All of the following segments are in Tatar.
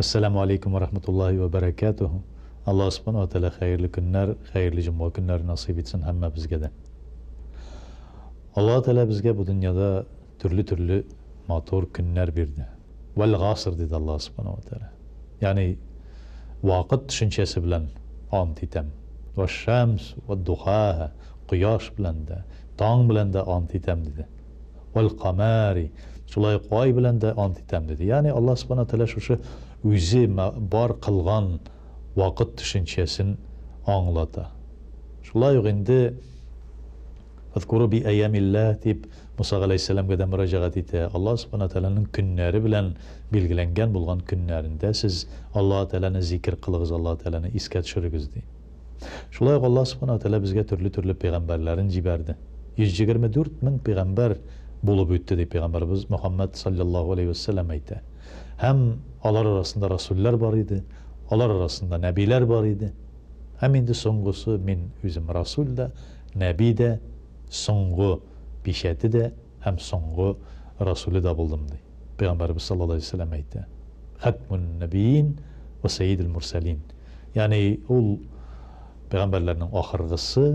Әссәләмү алейкум вә рахматуллаһи вә бәрәкәтүһү. Аллаһ Субханаһу ва Тәгалә хәерле көннәр, хәерле җомга көннәре насыйп итсен һәммәбезгә дә. Аллаһы Тәгалә безгә бу дөньяда төрле-төрле матур көннәр бирде. Вәл-гаср, диде Аллаһ Субханаһу ва Тәгалә. Ягъни, вакыт төшенчәсе белән ант итәм. Вәш-шәмс вә духаһа, кояш белән дә, таң белән дә ант итәм, диде. Вәл-камәри, шулай ук ай белән дә ант итәм, диде. Ягъни Аллаһ Субхана Тәгалә шушы үзе бар кылган вакыт төшенчәсен аңлата. Шулай ук инде Фәзкуру би-әйямилләһ дип Муса галәйһиссәламгә дә мөрәҗәгать итә. Аллаһ Субхана Тәгаләнең көннәре белән билгеләнгән булган көннәрендә сез Аллаһы Тәгаләне зикер кылыгыз, Аллаһы Тәгаләне искә төшерегез, ди. Шулай ук Аллаһ Субхана ва Тәгалә безгә төрле-төрле пәйгамбәрләрен җибәрде. 124 мең пәйгамбәр булып үтте, дип пәйгамбәребез Мөхәммәд салләллаһу галәйһи вә сәлләм әйтә. Һәм алар арасында расүлләр бар иде, алар арасында нәбиләр бар иде. Һәм инде соңгысы, мин үзем расүл дә, нәби дә, соңгы пичәте дә, һәм соңгы Расүле дә булдым, ди. Пәйгамбәребез саллаллаһу галәйһи ва сәлләм әйтә, Хәтмүн-нәбийин вә сәйидел-мурсәлин, ягъни ул пәйгамбәрләрнең ахыргысы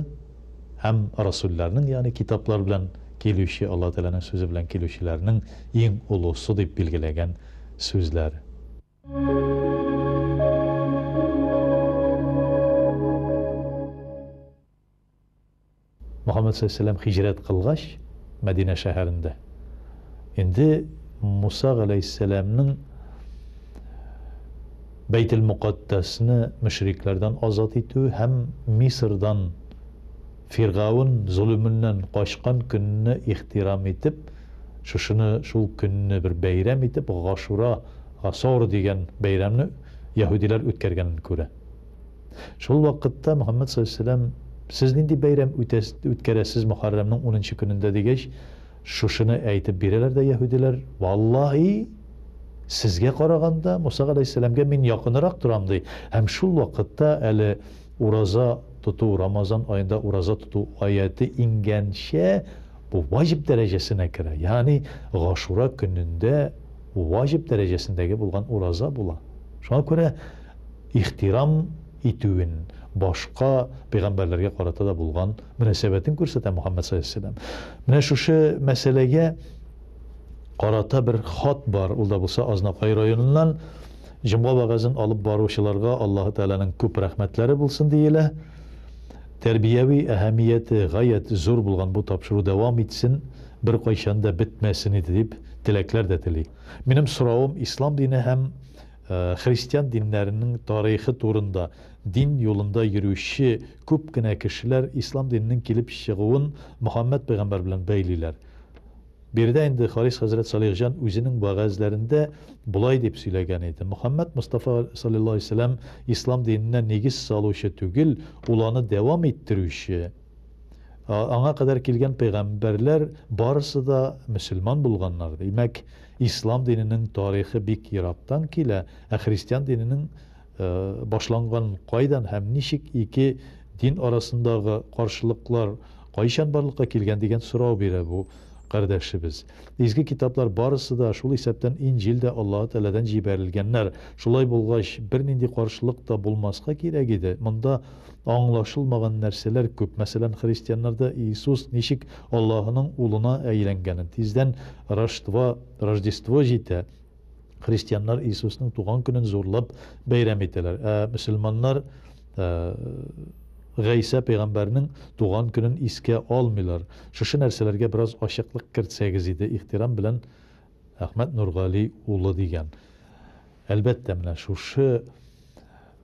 һәм расүлләрнең, ягъни китаплар белән килүче, Аллаһы Тәгаләнең сүзе белән килүчеләрнең иң олысы, дип билгеләгән сүзләр. Мөхәммәд галәйһиссәлам һиҗрәт кылгач, Мәдинә шәһәрендә инде Муса галәйһиссәламның Бәйтелмөкатдәсне мөшрикләрдән азат итүе һәм Мисырдан Фиргавен золеменнән качкан көнне ихтирам итеп, шушыны, шул көнне бер бәйрәм итеп, Гашура, Гасор дигән бәйрәмне яһүдиләр үткәргәнен күрә. Шул вакытта Мөхәммәд салләллаһу галәйһи ва сәлләм, Сез нинди бәйрәм үтәс, үткәрәсез Мөхәррәмнең унынчы көнендә? дигәч, шушыны әйтеп бирәләр дә яһүдиләр, Валлаһи, сезгә караганда, Муса галәйһиссәләмгә мин якынырак торам, ди, һәм шул вакытта әле ураза тоту, Рамазан аенда ураза тоту аяте иңгәнчә, бу ваҗиб дәрәҗәсенә керә, ягъни Гашура көнендә ваҗиб дәрәҗәсендәге булган ураза була. Шуңа күрә. ихтирам итүен, башка пәйгамбәрләргә карата да булган мөнәсәбәтен күрсәтә Мөхәммәд салләллаһу алейһи ва сәлләм. Менә шушы мәсьәләгә карата бер хат бар, ул да булса Азнакай районыннан. Җомга вәгазен алып баручыларга Аллаһы Тәгаләнең күп рәхмәтләре булсын, диелә. Тәрбияви әһәмияте гаять зур булган бу тапшыру дәвам итсен, беркайчан да бетмәсен иде, дип теләкләр дә тели. Минем соравым, ислам дине һәм Христиан диннәренең тарихы турында, Дин юлында йөрүче күп кенә кешеләр ислам диненең килеп чыгуын Мөхәммәд пәйгамбәр белән бәйлиләр. Биредә инде Харис хәзрәт Салихҗан үзенең вәгазьләрендә болай дип сөйләгән иде, Мөхәммәд Мостафа салләллаһу галәйһи ва сәлләм ислам диненә нигез салучы түгел, ул аны дәвам иттерүче. Аңа кадәр килгән пәйгамбәрләр барысы да мөселман булганнар, димәк, ислам диненең тарихы бик ерактан килә, ә христиан диненең башланган кайдан һәм ничек ике дин арасындагы каршылыклар кайчан барлыкка килгән дигән сорау бирә бу кардәшебез. Изге китаплар барысы да, шул исәптән Инҗил дә Аллаһы Тәгаләдән җибәрелгәннәр. Шулай булгач, бернинди каршылык та булмаска кирәк иде. Монда Аңлашылмаган нәрсәләр күп. Мәсәлән, христианнарда Иисус ничек Аллаһының Улына әйләнгәнен. Тиздән Роштво, Рождество җитә. Христианнар Иисусның туган көнен зурлап бәйрәм итәләр. Ә мөселманнар Гайсә пәйгамбәрнең туган көнен искә алмыйлар. Шушы нәрсәләргә бераз ачыклык кертсәгез иде. Ихтирам белән, Әхмәт Нургали улы дигән. Әлбәттә, менә шушы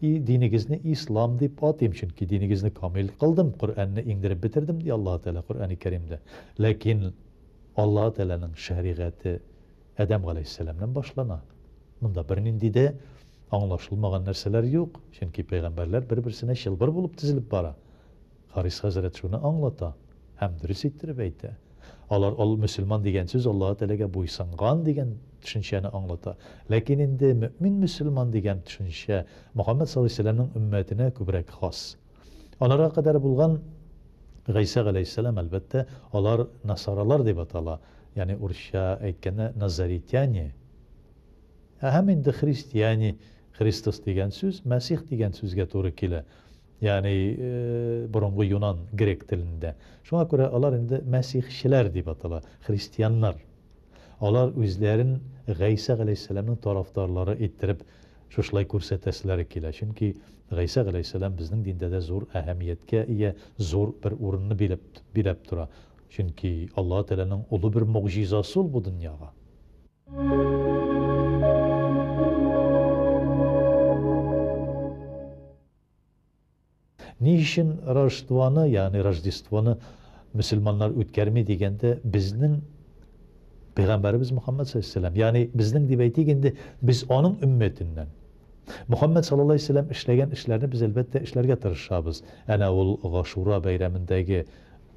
И, динегезне Ислам дип атыйм, чөнки динегезне камил кылдым, Коръәнне иңдереп бетердем, ди Аллаһы Тәгалә Коръәни Кәримдә. Ләкин Аллаһы Тәгаләнең шәригате Адәм галәйһиссәламнән башлана. Монда бернинди дә аңлашылмаган нәрсәләр юк, чөнки пәйгамбәрләр бер-берсенә чылбыр булып тезелеп бара. Харис хәзрәт шуны аңлата һәм дөрес иттереп әйтә. Алар ул мөселман дигән сүз Аллаһы Тәгаләгә буйсынган дигән төшенчәне аңлата. Ләкин инде мөэмин-мөселман дигән төшенчә Мөхәммәд саллаллаһу галәйһи ва сәлләмнең өммәтенә күбрәк хас. Аларга кадәр булган Гайсә галәйһиссәлам, әлбәттә, алар насаралар дип атала, ягъни урысча әйткәндә назаритяне. Ә һәм инде христиане, Христос дигән сүз Мәсих дигән сүзгә туры килә. Ягъни, борынгы юнан, грек телендә. Шуңа күрә алар инде мәсихчеләр дип атала, христианнар. Алар үзләрен Гайсә галәйһиссәламнең тарафдарлары иттереп шушылай күрсәтәселәре килә, чөнки Гайсә галәйһиссәлам безнең диндә дә зур әһәмияткә ия, зур бер урынны биләп, биләп тора. Чөнки Аллаһы Тәгаләнең олы бер могҗизасы ул бу дөньяга. Ни өчен Рождествоны, ягъни Рождествоны мөселманнар үткәрми дигәндә, безнең Пәйгамбәребез Мөхәммәд саллаллаһу алейһи ва сәлләм, ягъни безнең дип әйтик инде, без аның өммәтеннән. Мөхәммәд саллаллаһу алейһи ва сәлләм эшләгән эшләрне без, әлбәттә, эшләргә тырышабыз. Әнә ул Гашура бәйрәмендәге,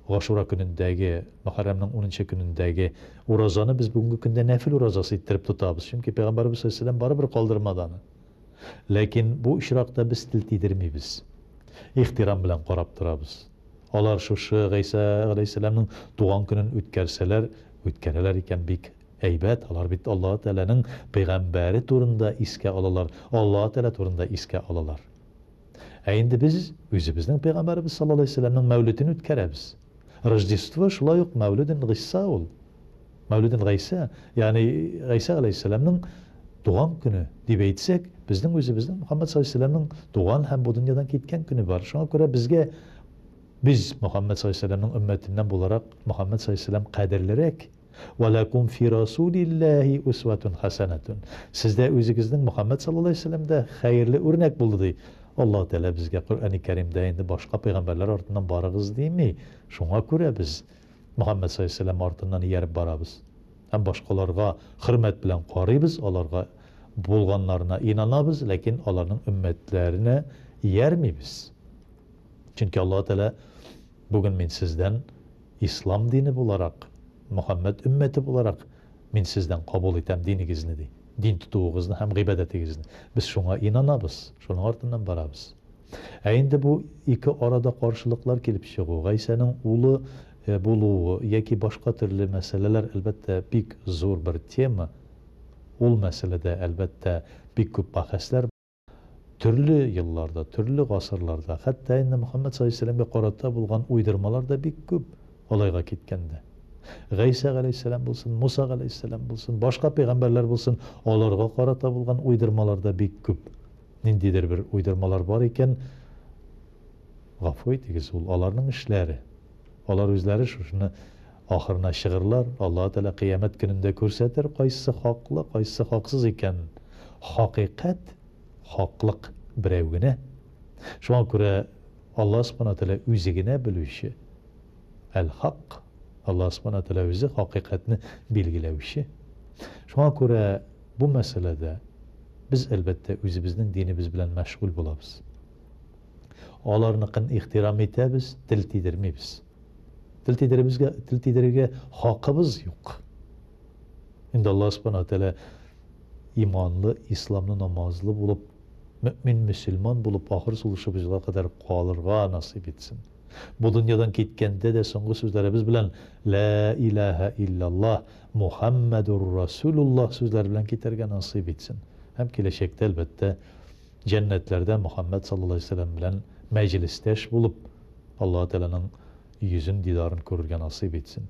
Гашура көнендәге, Мөхәррәмнең унынчы көнендәге уразаны без бүгенге көндә нәфел уразасы иттереп тотабыз, чөнки Пәйгамбәребез саллаллаһу алейһи ва сәлләм барыбер калдырмады аны. Ләкин бу очракта без тел тидермибез. Ихтирам белән карап торабыз. Алар шушы Гыйса галәйһиссәламның туган көнен үткәрсәләр, үткәрәләр икән, бик әйбәт, алар бит Аллаһы Тәгаләнең пәйгамбәре турында искә алалар, Аллаһы Тәгалә турында искә алалар. Ә инде без үзебезнең пәйгамбәребез саллаллаһу галәйһи ва сәлләмнең мәүлетен үткәрәбез. Рождество шулай ук мәүледен Гыйса ул. Мәүлиден Гайсә, ягъни Гайсә галәйһиссәламнең туган көне дип әйтсәк, безнең үзебезнең Мөхәммәд саллаллаһу алейһи ва сәлләмнең туган һәм бу дөньядан киткән көне бар. Шуңа күрә безгә без Мөхәммәд саллаллаһу алейһи ва сәлләмнең өммәтеннән буларак, Мөхәммәд саллаллаһу алейһи ва сәлләм кадерлерәк. Вә ләкум фи расулиллаһи үсвәтүн хәсәнәтүн. Сездә үзегезнең Мөхәммәд саллаллаһу алейһи ва сәлләмдә хәерле үрнәк булды, ди. Аллаһу Тәгалә безгә Коръәни Кәримдә инде башка пәйгамбәрләр артыннан барыгыз дими. Шуңа күрә без. Мөхәммәд салләллаһу галәйһи ва сәлләм артыннан ияреп барабыз һәм башкаларга хөрмәт белән карыйбыз, аларга булганнарына инанабыз, ләкин аларның өммәтләренә иярмибез. Чөнки Аллаһы Тәгалә, Бүген мин сездән ислам дине буларак, Мөхәммәд өммәте буларак мин сездән кабул итәм динегезне, ди, дин тотуыгызны һәм гыйбадәтегезне. Без шуңа инанабыз, шуның артыннан барабыз. Ә инде бу ике арада каршылыклар килеп чыгу, Гайсәнең улы булуы яки башка төрле мәсьәләләр, әлбәттә, бик зур бер тема. Ул мәсьәләдә, әлбәттә, бик күп бәхәсләр бар. Төрле елларда, төрле гасырларда, хәтта инде Мөхәммәд салләһу галәйһи ва сәлләмгә карата булган уйдырмалар да бик күп, алайга киткәндә. Гайсә галәйһиссәлам булсын, Муса галәйһиссәлам булсын, башка пәйгамбәрләр булсын, аларга карата булган уйдырмалар да бик күп. Ниндидер бер уйдырмалар бар икән, гафу итегез, ул аларның эшләре. Алар үзләре шушыны ахырына чыгырлар, Аллаһы Тәгалә Кыямәт көнендә күрсәтер, кайсы хаклы, кайсы хаксыз икәнен. Хакыйкать, хаклык берәү генә. Шуңа күрә Аллаһы Субхана ва Тәгалә үзе генә белүче. Әл-Хак, Аллаһы Субхана ва Тәгалә үзе хакыйкатьне билгеләүче. Шуңа күрә Бу мәсьәләдә без, әлбәттә, үзебезнең динебез белән мәшгуль булабыз. Аларныкын ихтирам итәбез, тел тидермибез. Тел тидеребезгә, тел тидерергә хакыбыз юк. Инде Аллаһ Субханаһу Тәгалә иманлы, исламлы, намазлы булып, мөэмин, мөселман булып, ахыр сулышыбызга кадәр калырга насыйп итсен. Бу дөньядан киткәндә дә соңгы сүзләребез белән Лә илаһә илляллаһ, Мухаммәдур Расулуллаһ сүзләре белән китәргә насыйп итсен һәм киләчәктә, әлбәттә, җәннәтләрдә Мухаммәд саллаллаһу галәйһи ва сәлләм белән мәҗлестәш булып, Аллаһы Тәгаләнең йөзен, дидарын күрергә насыйп итсен.